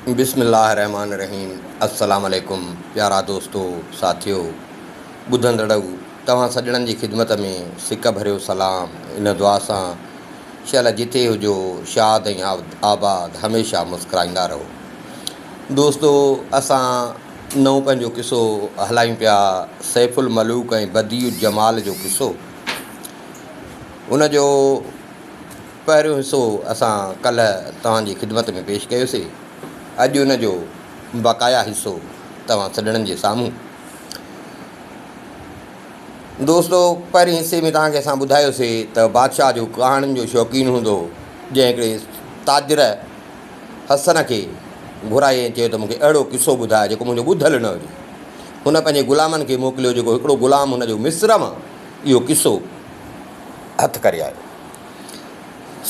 بسم الله الرحمٰن الرحيم السلام عليڪم پيارا دوستو ساٿيو ٻڌندڙئو توهان سڄڻن جي خدمت ۾ سڪ ڀريو سلام ان دعا سان شل جتي هجو شاد ۽ آباد هميشه مسڪرائيندا رهو دوستو اسان نئون پنهنجو قصو هلايون پيا سيف الملوڪ ۽ بديع الجمال جو قصو ان جو پهريون حصو اسان ڪلهه توهان جي خدمت ۾ پيش ڪيوسي، اڄ ان جو بقايا حصو توهان سڄڻن جي سامهون. دوستو! پهرين حصي ۾ توهان کي اسان ٻڌايوسي ته بادشاهه جو ڪهاڻين جو شوقين هوندو هو، جنهن هڪڙي تاجر حسن کي گهرايو ۽ چيو ته مون کي اهڙو قصو ٻڌاء جيڪو منهنجو ٻڌل نه هجي. هن پنهنجي غلامن کي موڪليو جيڪو هڪڙو غلام هن جو مصر مان اهو قصو هٿ ڪري آيو.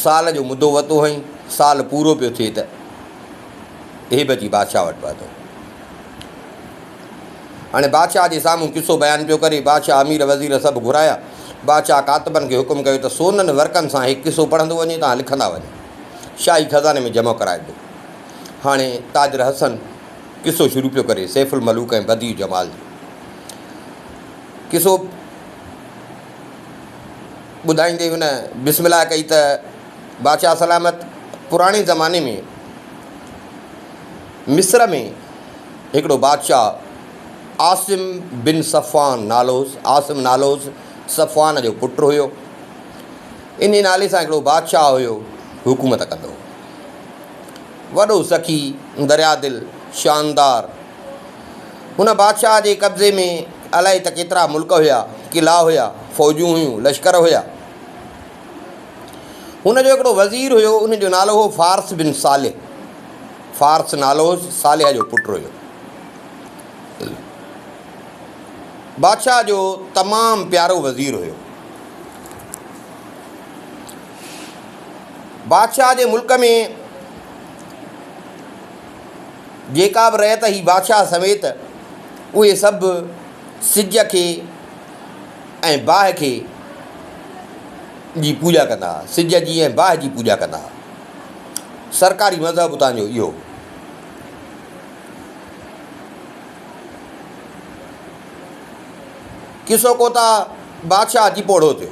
سال جو مدو وتو هئائين، سال پورو پيو ٿئي ته هيب جي بادشاهه وٽ پهتو. هاڻي بادشاهه جي سامهون قصو بيان پيو ڪري، بادشاهه امير وزير سڀ گهرايا، بادشاهه ڪاتبن کي حڪم ڪيو ته سونن ورقن سان هي قصو پڙهندو وڃي تان لکندا وڃو، شاهي خزاني ۾ جمع ڪرائبو. هاڻي تاجر حسن قصو شروع پيو ڪري، سيف الملوڪ ۽ بديع جمال جو قصو. ٻڌائيندي هن بسم الله ڪئي ته بادشاهه سلامت پراڻي زماني ۾ مصر ۾ هڪڙو بادشاهه عاصم بن صفان نالوز عاصم نالوز صفان جو پٽ هيو ان نالي سان هڪڙو بادشاهه هيو حڪومت ڪندو وڏو سخي دريا دل شاندار هن بادشاهه جي قبضي ۾ الائي ته ڪيترا ملڪ هيا، قلعا هيا، فوجون هيون، لشڪر هيا. هن جو هڪڙو وزير هيو، ان جو نالو هو فارس بن صالح. فارس نالو هوس، صالح جو پٽ هيو. بادشاهه جو تمام پيارو وزير هيو. بادشاهه جي ملڪ ۾ جيڪا به رعيت هئي بادشاهه سميت اهي سڀ سج کي ۽ باهه کي جي پوڄا ڪندا هئا سج جي ۽ باهه جي پوڄا ڪندا هئا سرڪاري مذهب اتان جو اهو هو ڪسو ڪوتا بادشاهه اچي پوڙهو ٿيو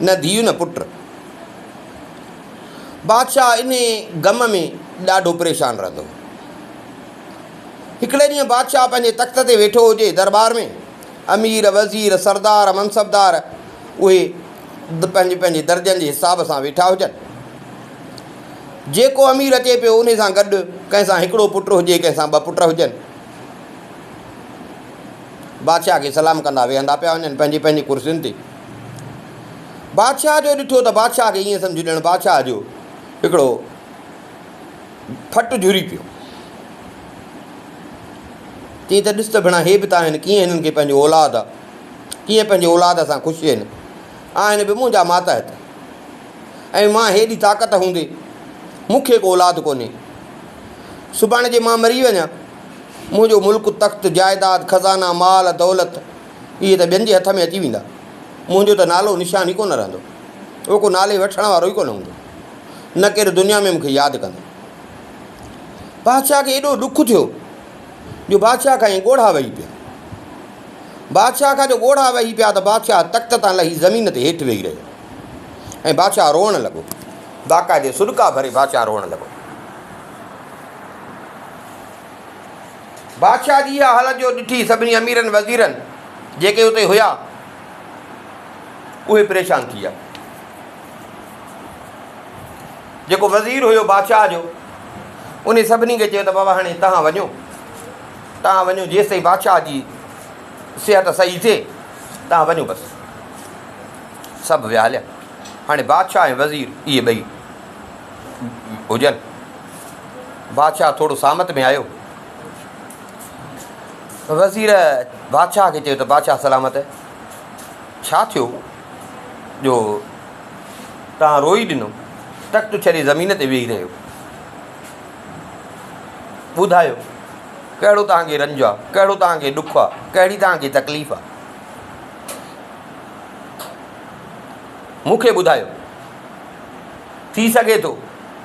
نه ڌيء نه پٽ. بادشاهه انهيء غم ۾ ڏاڍو پريشان رهندو هو. هڪڙي ڏينهن بادشاهه پنهنجي تخت تي ويٺو هجي، درٻار ۾ امير، وزير، سردار، منصبدار اهي پنهنجي پنهنجي درجن جي حساب سان ويٺا هجن. جيڪو امير اچي پيو انهيء سان گڏ ڪنهن سان هڪڙو پٽ هجي ڪنهن سان ٻه پٽ هجن. بادشاهه کي سلام ڪندا ويهندا پيا وڃن پنهنجي پنهنجي ڪرسين تي. بادشاهه جو ڏٺو ته بادشاهه کي ائين سمجهه ڄڻ بادشاهه جو هڪڙو ڦٽ جهري پيو. چيائين ته ڏس ته ڀيڻا هي به ته آهن ڪيئن هنن کي پنهنجو اولاد آ ڪيئن پنهنجي اولاد سان خوش آهن آهن به منهنجا ماتحت ۽ مان هيڏي طاقت هوندي مون کي به اولاد ڪونهي سڀاڻي جي مان مري وڃان منهنجو ملڪ تخت جائداد خزانا مال دولت اهي ته ٻين جي هٿ ۾ اچي ويندا. منهنجو ته نالو نشان ئي ڪونه رهندو. او ڪو نالي وٺڻ وارو ئي ڪونه هوندو. نه ڪير دنيا ۾ مون کي ياد ڪندو. بادشاهه کي ايڏو ڏک ٿيو جو بادشاهه کان ائين ڳوڙها وهي پيا. بادشاهه کان جو ڳوڙها وهي پيا ته بادشاهه تخت تان لهي زمين تي هيٺ ويهي رهيو ۽ بادشاهه روئڻ لڳو. باقاعدي سڏڪا ڀري بادشاهه روئڻ لڳو. بادشاهه جي اها حالت جو ڏٺي سڀني اميرن وزيرن جيڪي اتي هيا اهي پريشان ٿي ويا. جيڪو وزير هيو بادشاهه جو انهي سڀني کي چيو ته بابا هاڻي تهان وڃو تهان وڃو جيس تائين بادشاهه جي صحت صحيح ٿئي تهان وڃو بس سڀ ويا هليا هاڻي بادشاهه ۽ وزير اهي ٻئي هجن بادشاهه ٿورو سامت ۾ آيو. وزير بادشاهه کي چيو ته بادشاهه سلامت ڇا ٿيو جو تان روئي ڏنو تخت ڇڏي زمين تي ويهي رهيو ٻڌايو ڪهڙو تان کي رنج آهي ڪهڙو تان کي ڏک آهي ڪهڙي تان کي تڪليف آهي مون کي ٻڌايو ٿي سگهي ٿو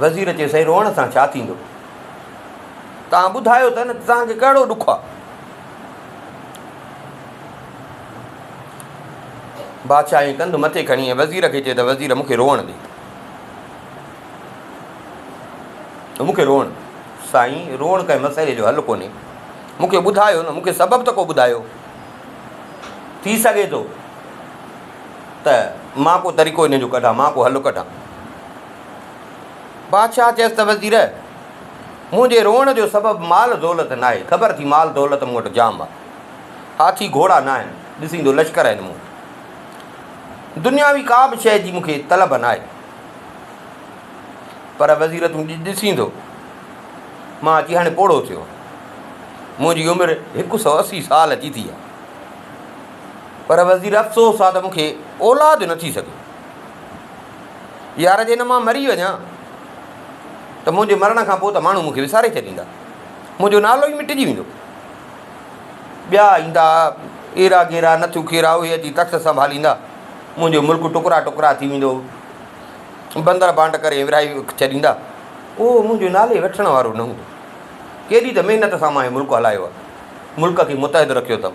وزير چيو، سائين روئڻ سان ڇا ٿيندو؟ توهان ٻڌايو ته نه ته توهان کي ڪهڙو ڏک آهي؟ بادشاهه ائين ڪنڌ مٿي کڻي ۽ وزير کي چيو ته وزير مون کي روئڻ ڏي مون کي روئڻ سائين روئڻ ڪنهن مسئلي جو حل ڪونهي مون کي ٻڌايو نه مون کي سبب ته ڪو ٻڌايو ٿي سگهي ٿو ته مان ڪو طريقو ان جو ڪڍان، مان ڪو حل ڪڍان. بادشاهه چيس ته وزير! منهنجي روئڻ جو سبب مال دولت ناهي، خبر ٿي مال دولت مون وٽ جام آهي. هاٿي گهوڙا ناهن، ڏسيندو لشڪر آهن مون وٽ. دنياوي ڪا به شيء جي مون کي طلب ناهي. پر وزير تون ڏسيندو، مان اچي هاڻي پوڙهو ٿيو آهيان. منهنجي عمر هڪ سؤ اسي سال جي ٿي آهي. پر وزير افسوس آ ته مون کي اولاد نه ٿي سگهي. يار جي نه مان مري وڃان ته منهنجي مرڻ کان پوء ته ماڻهو مون کي وساري ڇڏيندا. منهنجو نالو ئي مٽجي ويندو. ٻيا ايندا ايرا گيرا نٿو کيرا اهي اچي تخت سنڀاليندا. منهنجو ملڪ ٽڪرا ٽڪرا ٿي ويندو. بندر بانٽ ڪري ورهائي ڇڏيندا. اهو منهنجي نالي وٺڻ وارو نه هوندو. ڪيڏي ته محنت سان مان هي ملڪ هلايو آ. ملڪ کي متحد رکيو اٿم.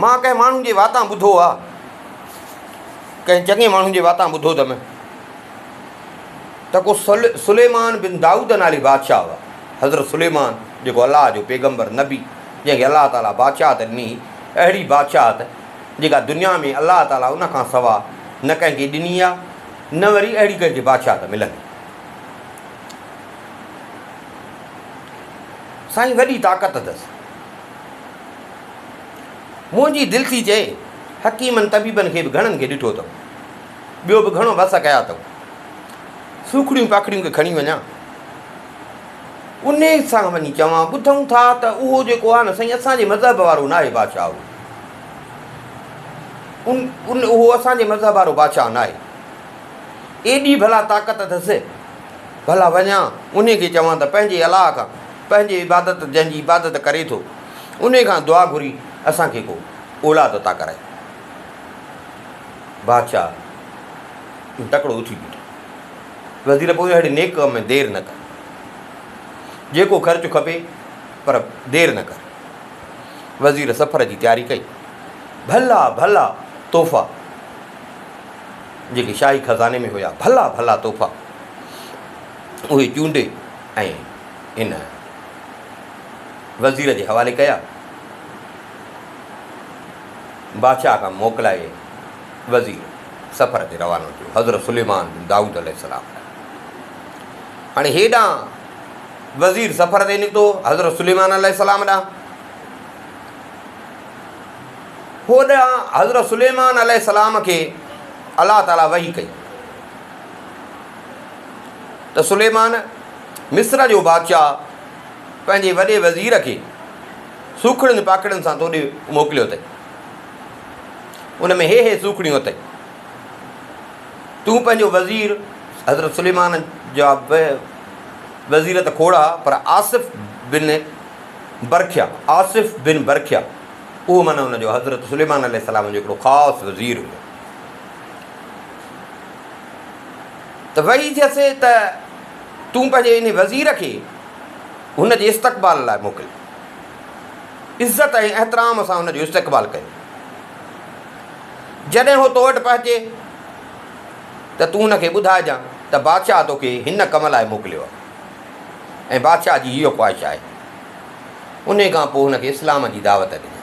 مان ڪنهن ماڻهو جي واتان ٻڌو آ. ڪنهن چڱي ماڻهو جي واتان ٻڌو ته م ته ڪو سليمان بن دائود نالي بادشاهه هو. حضرت سليمان جيڪو الله جو پيغمبر، نبي، جنهن کي الله تعاليٰ بادشاهت ڏني هئي، اهڙي بادشاهت جيڪا دنيا ۾ الله تعاليٰ ان کان سوا نه ڪنهن کي ڏني آ نه وري اهڙي ڪنهن کي بادشاهت ملندي. سائين وڏي طاقت اٿس. منهنجي دل ٿي چئي، حڪيمن طبيبن کي به گهڻن کي ڏٺو اٿئو. ٻيو به گهڻو وس ڪيا اٿئو. سوکڙيون پکڙيون کي کڻي وڃان. انهيء سان وڃي چوان، ٻڌون ٿا ته اهو جيڪو آهي نه سائين اسان جي مذهب وارو ناهي بادشاهه اهو. ان اهو اسان جي مذهب وارو بادشاهه ناهي. ايڏي ڀلا طاقت اٿس. ڀلا وڃان انهي کي چوان ته پنهنجي الله کان پنهنجي عبادت جنهن جي عبادت ڪري ٿو انهي کان دعا گهري اسان کي ڪو اولاد عطا ڪرائي. بادشاهه ۽ تڪڙو اٿي بيٺا. وزير پوء اهڙي نيڪ ڪم ۾ دير نه ڪر. جيڪو خرچ کپي پر دير نه ڪر. وزير سفر جي تياري ڪئي. ڀلا ڀلا تحفا جيڪي شاهي خزاني ۾ هيا ڀلا ڀلا تحفا. اهي چونڊي ۽ هن وزير جي حوالي ڪيا. بادشاهه کان موڪلائي وزير سفر تي روانو ٿيو حضرت سليمان بن دائود عليه السلام ڏانهن. هاڻي هيڏانهن وزير سفر تي نڪتو حضرت سليمان عليه السلام ڏانهن. هوڏانهن حضرت سليمان عليه السلام کي الله تعاليٰ وحي ڪئي ته سليمان مصر جو بادشاهه پنهنجي وڏي وزير کي سوکڙين پاکڙين سان توڏي موڪليو اٿئي ان ۾ هي هي سوکڙيون اٿئي تون پنهنجو وزير حضرت سليمان جا وزير ته کوڙا پر آصف بن برکيا آصف بن برکيا اهو معنی هن جو حضرت سليمان عليه السلام جو هڪڙو خاص وزير هو ته وحي جي سي ته تون پنهنجي انهي وزير کي هن جي استقبال لاء موڪل. عزت ۽ احترام سان هن جو استقبال ڪيو. جڏهن هو تو وٽ پهچي ته تون هن کي ٻڌائجان ته بادشاهه تو کي هن ڪم لاء موڪليو آهي ۽ بادشاهه جي هيء خواهش آهي. انهي کان پوء هن کي اسلام جي دعوت ڏجان.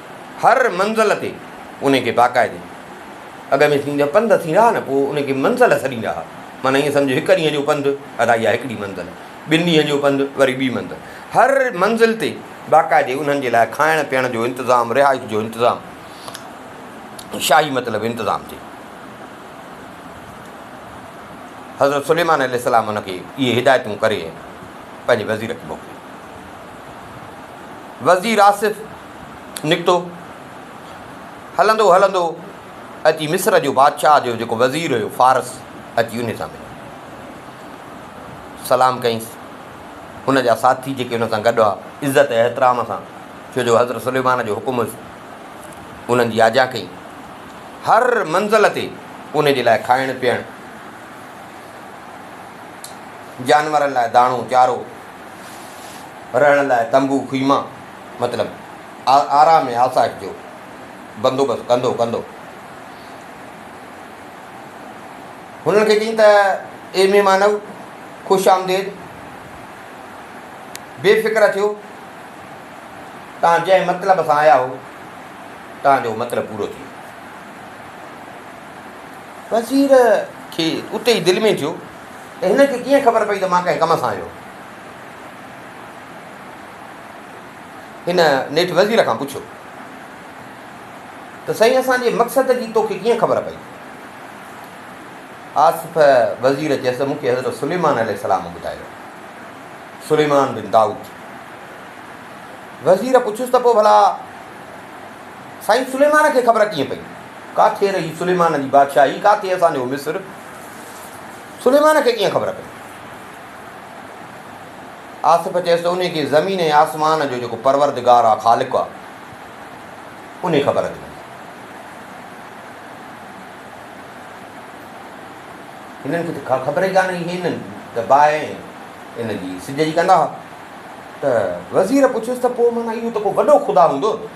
هر منزل تي انهي کي باقاعدي اڳ ۾ ٿيندي هئا پنڌ ٿيندا هئا نه پوء انهي کي منزل سڏيندا هئا معنيٰ ايئن سمجهو هڪ ڏينهن جو پنڌ ادا اها هڪڙي منزل ٻن ڏينهن جو پنڌ وري ٻي منزل هر منزل تي باقاعدي انهن جي لاء کائڻ پيئڻ جو انتظام رهائش جو انتظام شاهي مطلب انتظام ٿي حضرت سليمان عليه السلام ان کي اهي هدايتون ڪري پنهنجي وزير کي موڪلي وزير آصف نڪتو. هلندو هلندو اچي مصر جو بادشاهه جو جيڪو وزير هيو فارس اچي ان سان مليو. سلام ڪيس. ان جا ساٿي جيڪي ان سان گڏ هئا عزت احترام سان ڇو جو حضرت سليمان جو حڪم هيس انهن جي آجيان ڪئي. هر منزل تي ان جي لاء کائڻ پيئڻ جانورن لاء داڻو چارو رهڻ لاء تنبو خيما. مطلب آرا ۾ آسائش جو بندوبست ڪندو ڪندو هنن کي چيائين ته اي مهمانؤ خوش آمديد بي فڪر ٿيو تان جنهن مطلب سان آيا هو تان جو مطلب پورو ٿي وزير کي اتي ئي دل ۾ ٿيو ته هن کي ڪيئن خبر پئي ته مان ڪنهن ڪم سان آيو هن نيٺ وزير کان پڇيو ته سائين اسان جي مقصد جي توکي ڪيئن خبر پئي؟ آصف وزير چيس ته مون کي حضرت سليمان عليه السلام ٻڌايو. سليمان بن داؤد. وزير پڇيس ته پوء ڀلا سائين سليمان کي خبر ڪيئن پئي؟ ڪاٿي رهي سليمان جي بادشاهي ڪاٿي اسان جو مصر سليمان کي ڪيئن خبر پئي؟ آصف چيس ته انهي کي زمين ۽ آسمان جو جيڪو پروردگار آ، خالق آ، انهي خبر ٿي هوندي. هنن کي ته ڪا خبر ئي ڪانهي. هي هنن ته باهه ان جي سج جي ڪندا ها ته وزير پڇيس ته پوء معنيٰ اهو ته ڪو وڏو خدا هوندو نه؟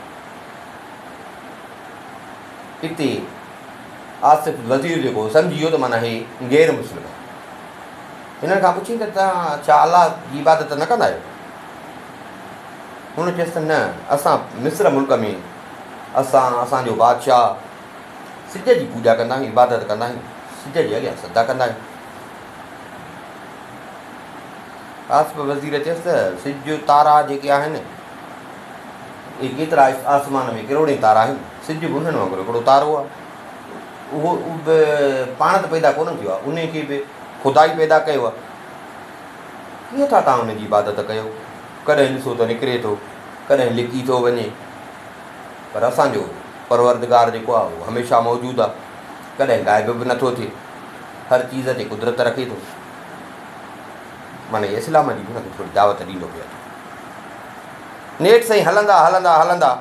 اتي آصف وزير جيڪو هو سمجهي ويو ته معنيٰ هي غير مسلم آهي. هنن کان پڇين ته توهان ڇا الله جي عبادت نه ڪندا آهيو؟ هن چيس ته نه اسان مصر ملڪ ۾ اسان اسان جو بادشاهه سج جي پوڄا ڪندا آهيون، عبادت ڪندا آهيون، سج جي اڳيان سجدا ڪندا آهيون. آصف وزير چيس ته سج تارا جيڪي آهن اهي ڪيترا آسمان ۾ ڪروڙين تارا آهن، سج به انهن وانگر هڪڙو تارو آهي. اهو به پاڻ ته پيدا ڪونه ٿيو آهي، انهي کي به خدا ئي پيدا ڪيو آهي. ڪيئن ٿا توهان ان جي عبادت ڪيو؟ ڪڏهن ڏسو ته نڪري ٿو، ڪڏهن لڪي ٿو وڃي. پر اسان جو پروردگار جيڪو آهي اهو هميشه موجود آهي، ڪڏهن غائب به نٿو ٿئي، هر چيز تي قدرت رکي ٿو. معني اسلام جي به هن کي ٿوري دعوت ڏيندو پئي هلان. نيٺ سائين هلندا هلندا هلندا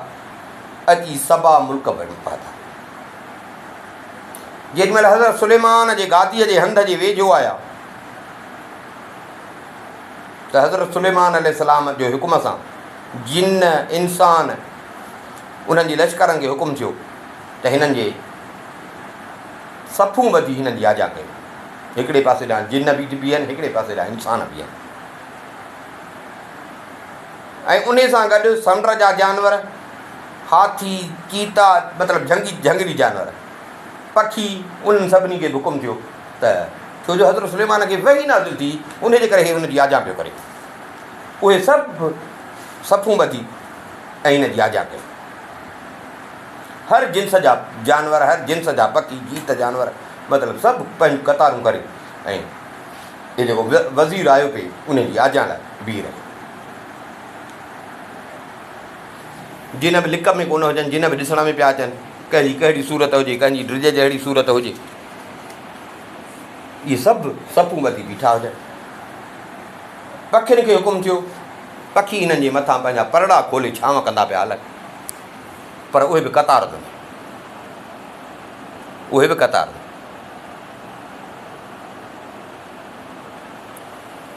اچي سبا ملڪ بڻي پهتا. جيڏي مهل حضرت سليمان جي گاديء جي هنڌ جي ويجهو آيا ته حضرت سليمان عليه السلام جو حڪم سان جن انسان انهن جي لشڪرن کي حڪم ٿيو ته هنن جي صفون ٻڌي هنن جي آجا ڪيو هڪڙي پاسي ڏانهن جن بي بيهن هڪڙي پاسي ڏانهن انسان بيهن ۽ ان سان گڏ سمنڊ جا جانور هاٿي، چيتا مطلب جهنگي جهنگلي جانور، پکي، انهن سڀني کي به حڪم ٿيو ته ڇو جو حضرت سليمان کي وحي نازل ٿي انهي جي ڪري هي هن جي آجيان پيو ڪري. اهي سڀ صفون ٻڌي ۽ هن جي آجيان ڪئي. هر جنس جا جانور هر جنس جا پکي جيت جانور مطلب سڀ پنهنجون قطارون ڪري ۽ هي جيڪو وزير آيو پي انهي جي آجيان لاء بيهي رهيو. جنھن به لڪ ۾ ڪونه هجن، جنھن به ڏسڻ ۾ پيا اچن، ڪنھن جي ڪهڙي صورت هجي، ڪنھن جي ڊڄ جهڙي صورت هجي، اهي سڀ صفون ٻڌي بيٺا هجن. پکين کي حڪم ٿيو، پکي انھن جي مٿان پنھنجا پرڙا کولي ڇانو ڪندا پيا هلن، پر اهي به قطار ۾، اهي به قطار ۾.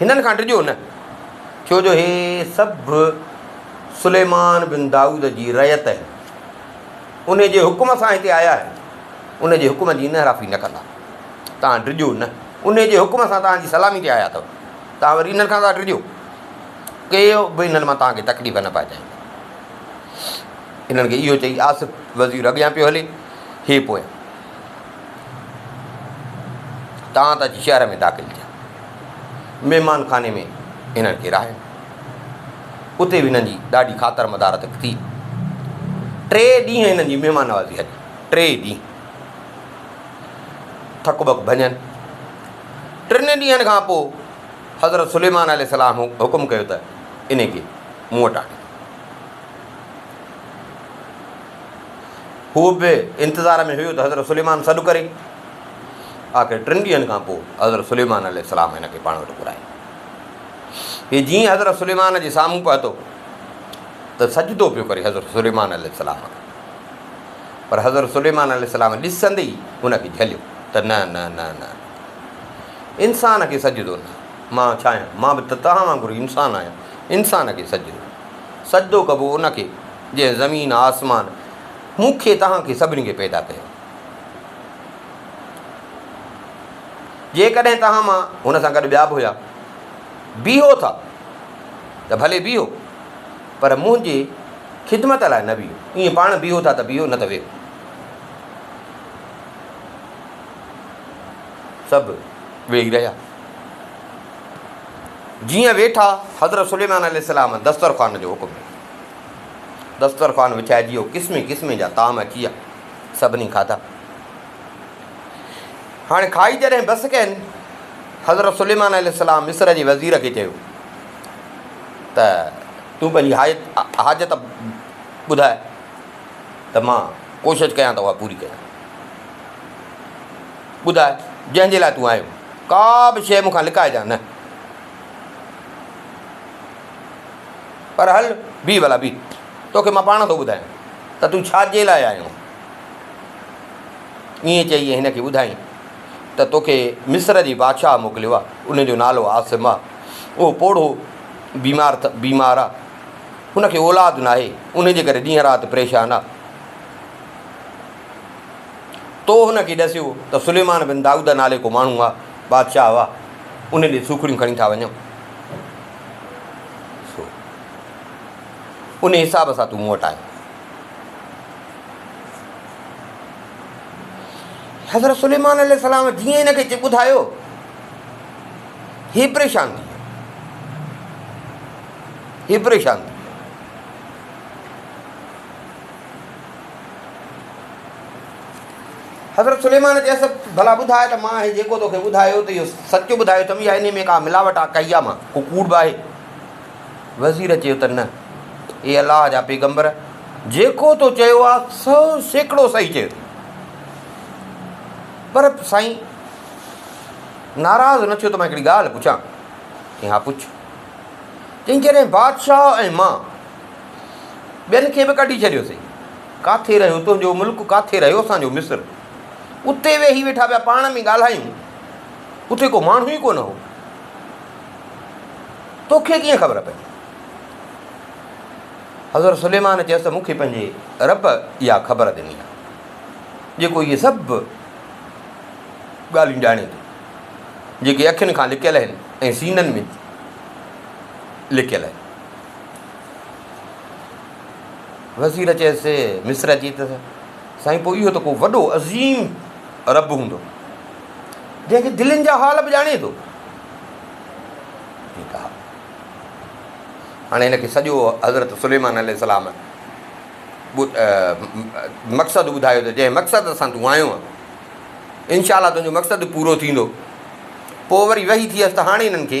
هنن کان ڊڄو نه، ڇو جو هي سڀ سليمان بن دائود جي رعيت آهن، ان جي حڪم سان هتي آيا آهن، ان جي حڪم جي انحرافي نه ڪندا. توهان ڊڄو نه، ان جي حڪم سان توهان جي سلامي تي آيا اٿو، توهان وري هنن کان ٿا ڊڄو. ڪي به هنن مان توهان کي تڪليف نه پهچائيندو. هنن کي اهو چئي آصف وزير اڳيان پيو هلي، هي پويان. تان ته اچي شهر ۾ داخل ٿيا. مهمان خاني ۾ هنن کي رهايو. اتي به هنن جي ڏاڍي خاطر مدارت ٿي. ٽي ڏينهن هنن جي مهمان نوازي هلي. ٽي ڏينهن ٿڪ ٻڪ ڀڃن ٽن ڏينهن کان پوء حضرت سليمان عليه السلام حڪم ڪيو ته ان کي مون وٽ آڻي هو به انتظار ۾ هيو ته حضرت سليمان سڏ ڪري. آخر ٽن ڏينهن کان پوء حضرت سليمان عليه السلام هن کي پاڻ وٽ گهرايو. هي جيئن حضرت سليمان جي سامهون پهتو ته سجدو پيو ڪري حضرت سليمان عليه السلام کي. پر حضرت سليمان عليه السلام ڏسندي ئي هن کي جهليو ته نه نه نه نه انسان کي سجدو نه، مان ڇا آهيان، مان به ته توهان وانگر انسان آهيان، انسان کي سجدو، سجدو ڪبو ان کي. جنهن زمين آسمان مون کي توهان کي سڀني کي پيدا ڪيو. جيڪڏهن توهان مان هن سان گڏ ٻيا به هيا بيهو ٿا ته ڀلي بيهو پر منهنجي خدمت لاء نه بيهو ائين پاڻ بيهو ٿا ته بيهو نه ته ويهو. سڀ ويهي رهيا. جيئن ويٺا حضرت سليمان عليه السلام دسترخوان جو حڪم ڏنو. دسترخوان وڇائجي ويو، قسمين قسمين جا طعام اچي ويا، سڀني کاڌا. هاڻي کائي جڏهن بس ڪين، حضرت سليمان عليه السلام مصر جي وزير کي چيو ته تون پنهنجي حاجت حاجت ٻڌاء ته مان ڪوشش ڪيان ته اها پوري ڪيان. ٻڌاء جنهن جي لاء تون آيو، ڪا به شيء مون کان لڪائجان نه. پر هل، بيهه ڀلا بيهه، توکي مان پاڻ ٿو ٻڌايان ته تون ڇا جي لاء آيو آهين. ائين چئي هن کي ٻڌايائين ته توکي مصر جي بادشاهه موڪليو آهي، ان جو نالو عاصم آهي. اهو پوڙهو بيمار بيمار آهي. هن کي اولاد ناهي، انهي جي ڪري ڏينهن رات پريشان آهي. تو هن کي ڏسيو ته سليمان بن دائود نالي ڪو ماڻهو آهي، بادشاهه آهي، ان ڏي سوکڙيون کڻي ٿا وڃون. سو ان حساب سان تون مون وٽ آيو حضرت سليمان عليه السلام جيئن هن کي ٻڌايو هي پريشان ٿي هي پريشان ٿي حضرت سليمان چيس، ڀلا ٻڌاء ته مان هي جيڪو توکي ٻڌايو ته اهو سچ ٻڌايو اٿم يا انهي ۾ ڪا ملاوٽ آ ڪئي آ مان ڪو ڪوڙ به آهي؟ وزير چيو ته نه اي الله جا پيغمبر جيڪو تو چيو آ سو سيڪڙو صحيح چيو ٿي پر سائين ناراض نه ٿيو ته مان هڪڙي ڳالهه پڇان؟ چيائين ها پڇ چيائين جڏهن بادشاهه ۽ مان ٻين کي به ڪڍي ڇڏيوسين. ڪاٿي رهيو تنهنجو ملڪ، ڪاٿي رهيو اسان جو مصر. اتي ويهي ويٺا پيا پاڻ ۾ ڳالهايون. اتي ڪو ماڻهو ئي ڪونه هو. توکي ڪيئن خبر پئي؟ حضرت سليمان چيس ته مون کي پنهنجي رب اها خبر ڏني آهي، جيڪو اهي سڀ ڳالهيون ڄاڻي ٿو، جيڪي اکين کان لڪيل آهن ۽ سينن ۾ لڪيل آهن. وزير چيس، مصرع جي ته سائين پوء اهو ته ڪو وڏو عظيم رب هوندو، جنهن جي دلين جا حال به ڄاڻي ٿو. ٺيڪ آهي. هاڻي هن کي سڄو حضرت سليمان عليه السلام مقصد ٻڌايو ته جنهن مقصد سان تون آيو آن انشاء الله تنهنجو مقصد پورو ٿيندو. پوء وري وحي ٿيس ته هاڻي هنن کي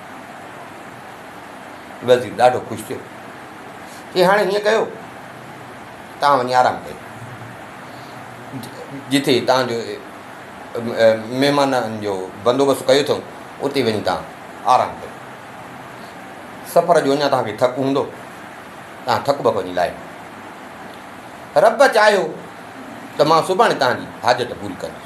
وزير ڏاڍو خوش ٿيو، چيائين هاڻي هيئن ڪيو، توهان وڃي آرام ڪيو، جتي توهان جو مهمانن جو بندوبست ڪيو اٿم، اتي وڃي توهان آرام ڪيو. سفر جو اڃا توهان کي ٿڪ هوندو، توهان ٿڪ بڪ وڃي لاهيو. رب چاهيو ته مان سڀاڻي توهان جي حاجت پوري ڪندس.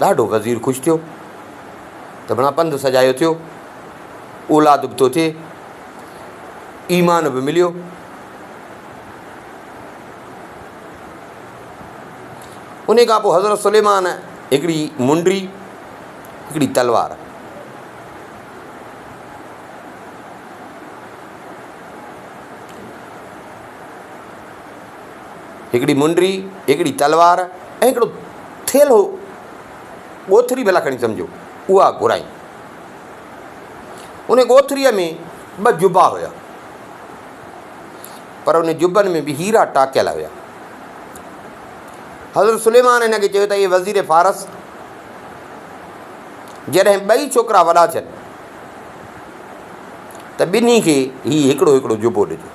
ڏاڍو غزير خوش ٿيو ته ڀڻا پنڌ سجايو ٿيو، اولاد به ٿو ٿئي، ايمان به مليو. ان کان پوء حضرت سليمان هڪڙي منڊي، هڪڙي تلوار، هڪڙي منڊي، هڪڙي تلوار ۽ هڪڙو ٿيلهو، ڳوٿري ڀلا کڻي سمجهو، اها گهرائين. ان ڳوٿريء ۾ ٻه جبا هيا، پر ان جبن ۾ به هيرا ٽاڪيل هيا. حضرت سليمان هن کي چيو ته اي وزير فارس، جڏهن ٻئي ڇوڪرا وڏا ٿين ته ٻنهي کي هي هڪڙو هڪڙو جبو ڏجو.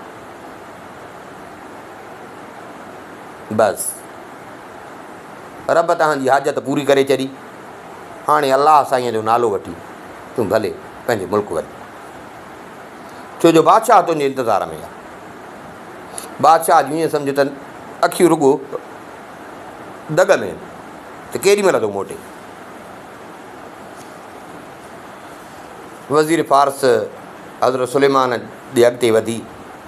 بس رب تنهنجي حاجت پوري ڪري ڇڏي هاڻي الله سائينء جو نالو وٺي تون ڀلي پنهنجي ملڪ وڃ ڇو جو بادشاهه تنهنجي انتظار ۾ آهي بادشاهه جون ائين سمجهه تن اکيون رڳو دڳ ۾ ته ڪيڏي مهل ٿو موٽي وزير فارس حضرت سليمان ڏي اڳتي وڌي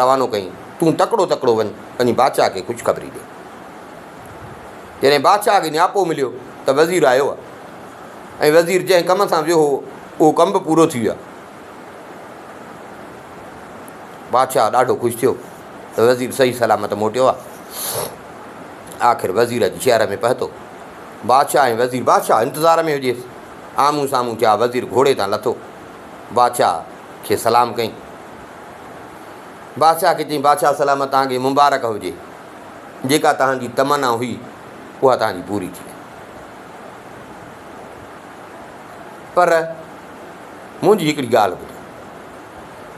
روانو ڪيائين، تون تڪڙو تڪڙو وڃ، پنهنجي بادشاهه کي خوشخبري ڏي. جڏهن بادشاهه کي نياپو مليو ته وزير آيو آهي ۽ وزير جنهن ڪم سان ويو هو، اهو ڪم به پورو ٿي ويو آهي. بادشاهه ڏاڍو خوش ٿيو ته وزير صحيح سلامت موٽيو آهي. آخر وزير اچي شهر ۾ پهتو. بادشاهه ۽ وزير، بادشاهه انتظار ۾ هجيس، آمهون سامهون ٿيا. وزير گهوڙي تان لٿو، بادشاهه کي سلام ڪيائين. بادشاهه کي چيائين، بادشاهه سلامت توهان کي مبارڪ هجي، جيڪا توهان جي تمنا هئي، اها توهان جي پوري ٿي. پر منهنجي هڪڙي ڳالهه ٻڌو.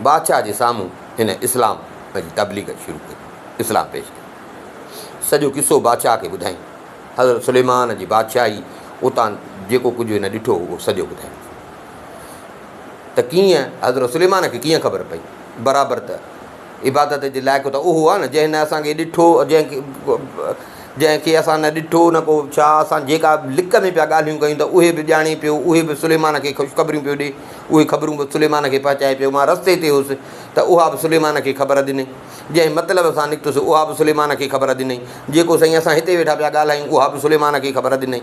بادشاهه جي سامهون هن اسلام جي تبليغ شروع ڪئي، اسلام پيش ڪيو. سڄو قصو بادشاهه کي ٻڌائين. حضرت سليمان جي بادشاهي اتان جيڪو ڪجهه هن ڏٺو هو، اهو سڄو ٻڌائين. ته ڪيئن حضرت سليمان کي ڪيئن خبر پئي؟ برابر ته عبادت جي لائق ته اهو آهي نه جنهن نه اسان کي ڏٺو جنهن جنهن کي اسان نه ڏٺو نه ڪو ڇا اسان جيڪا لڪ ۾ پيا ڳالهيون ڪيون ته اهي به ڄاڻي پيو اهي به سليمان کي خوشخبريون پيو ڏي اهي خبرون به سليمان کي پهچائي پيو مان رستي تي هوس ته اها به سليمان کي خبر ڏني جنهن مطلب سان نڪتس اها به سليمان کي خبر ڏني جيڪو سائين اسان هتي ويٺا پيا ڳالهايون اها به سليمان کي خبر ڏني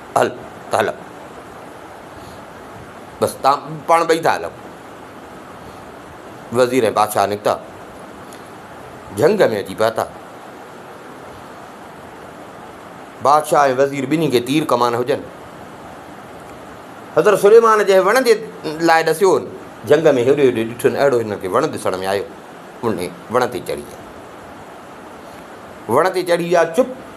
هل ته هلان بس تان پاڻ ٻئي ٿا هلان وزير ۽ بادشاهه نڪتا جهنگ ۾ اچي پهتا بادشاهه ۽ وزير ٻنهي کي تير ڪمان هجن حضرت سليمان جنهن وڻ جي لاء ڏسيو جهنگ ۾ هيڏو هيڏو ڏٺن اهڙو هن کي وڻ ڏسڻ ۾ آيو ان وڻ تي چڙهي ويا وڻ تي چڙهي ويا چپ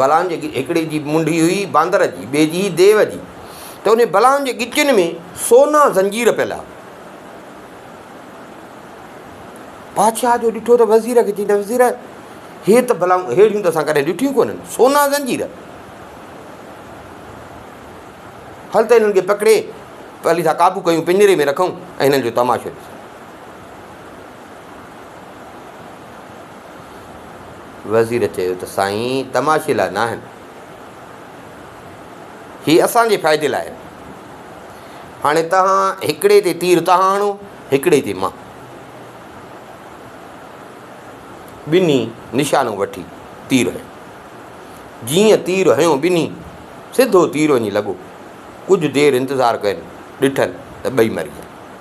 بلان جي هڪڙي جي منڍي هئي باندر جي، ٻئي جي هئي ديو جي، ته انهن بلان جي ڳچين ۾ سونا زنجير پيل ها. بادشاهه جو ڏٺو ته وزير کي چيائين ته وزير هي ته بلائون ههڙيون ته اسان ڪڏهن ڏٺيون ڪونهن، سونا زنجير، هل ته هنن کي پڪڙي پلي سان قابو ڪيون پڃري ۾ رکون ۽ هنن جو تماشو ڏسون. وزير چيو ته سائين تماشي لاء ناهن، هي اسان جي فائدي لاء آهن، هاڻي تهان هڪڙي تي تير تهان هڻو هڪڙي تي مان. ٻنهي نشانو وٺي تير هنيو. جيئن تير هنيو ٻنهي سڌو تير وڃي لڳو. ڪجهه دير انتظار ڪين ڏٺن ته ٻئي مري ويا.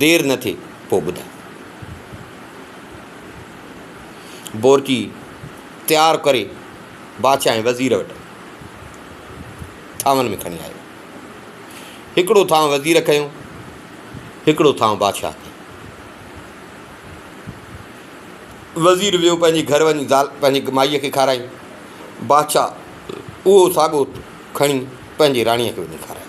دير نه ٿي پوء ٻڌاء. بورچي تيار ڪري بادشاهه ۽ وزير وٽ ٿانون ۾ کڻي آيو. هڪڙو ٿانو وزير کنيو، هڪڙو ٿانو بادشاهه کنيو. وزير ويو پنهنجي گهر وڃي زال پنهنجي مائيء کي کارائي. بادشاهه اهو ساڳو کڻي پنهنجي راڻيء کي وڃي کارايو.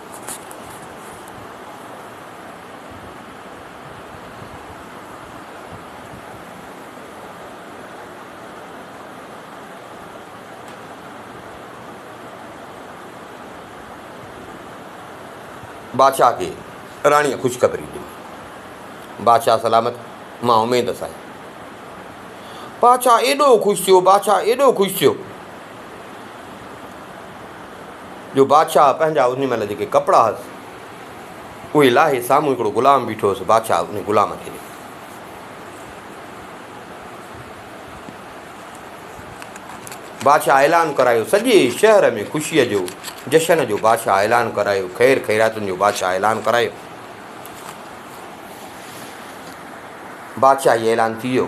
بادشاهه کي راڻيء خوشخبري ڏني. بادشاهه سلامت مان اميد سان. بادشاهه ايڏو خوش ٿيو، بادشاهه ايڏو خوش ٿيو. جو بادشاهه پنهنجا ان مهل جيڪي ڪپڙا هئس اهي لاهي سامهون هڪڙو غلام بيٺو هئس بادشاهه ان غلام کي ڏٺو بادشاهه اعلان ڪرايو سڄي شهر ۾ خوشيء جو جشن جو بادشاهه اعلان ڪرايو خير خيراتن جو بادشاهه اعلان ڪرايو بادشاهي اعلان ٿي ويو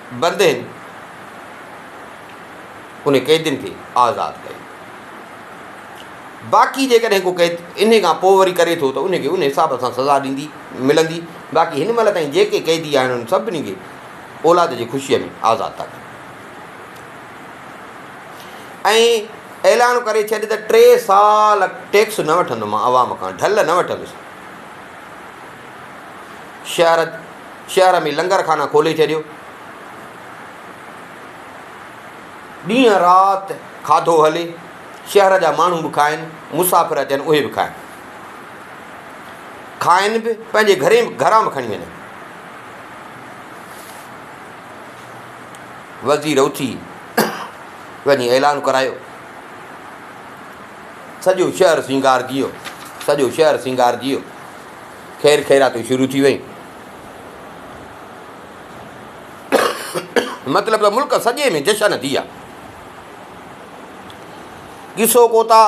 بندين انهن قيدين کي آزاد ڪيو. باقي جيڪڏهن ڪو قيد انهي کان پوء وري ڪري ٿو ته ان کي ان حساب سان سزا ڏيندي ملندي باقي هن مهل تائين جيڪي قيدي آهن انهن سڀني کي اولاد جي خوشيء ۾ آزاد ٿا ڪن ۽ اعلان ڪري ڇڏ ته ٽي سال ٽيڪس نه وٺندو مان عوام کان ڍل نه وٺندس شهر شهر ۾ لنگر خانا کولي ڇڏيو. ڏينهن رات کاڌو هلي، شهر جا ماڻهو به کائن، مسافر اچن اهي به کائن. کائن به پنهنجي گهرين گهران به کڻي وڃن. وزير اٿي وڃي اعلان ڪرايو سڄو شهر سينگارجي ويو سڄو شهر سينگارجي ويو خير خيراتون شروع ٿي ويون. مطلب ته ملڪ سڄي ۾ جشن ٿي ويا. قصو ڪوتا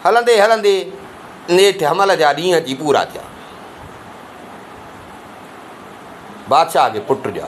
هلندي هلندي نيٺ حمل جا ڏينهن اچي پورا ٿيا. بادشاهه کي پٽ ڏيا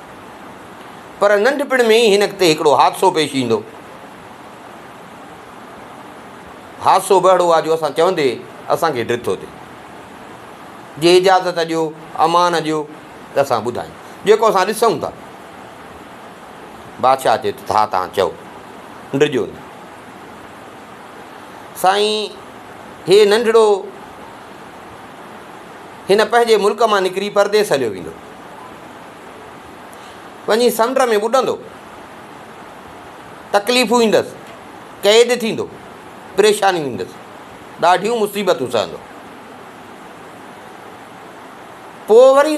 پر ننڍپڻ ۾ ئي هن تي هڪڙو حادثو پيش ايندو. حادثو به اهڙو آ جو اسان چوندي اسان کي ڊٿ ٿو ٿئي. جي اجازت ڏيو، امان ڏيو ته اسان ٻڌايون. جيڪو اسان ڏسون ٿا. بادشاهه چئي ٿو ته ها تان چئو. ڊڄو نه. سائين هي ننڍڙو هن پنهنجي ملڪ مان نڪري پرديس هليو ويندو. وڃي سمنڊ ۾ ٻڏندو، تڪليفون ايندس، قيد ٿيندو، پريشانيون ايندس، ڏاڍيون مصيبتون سهندو. پوء وري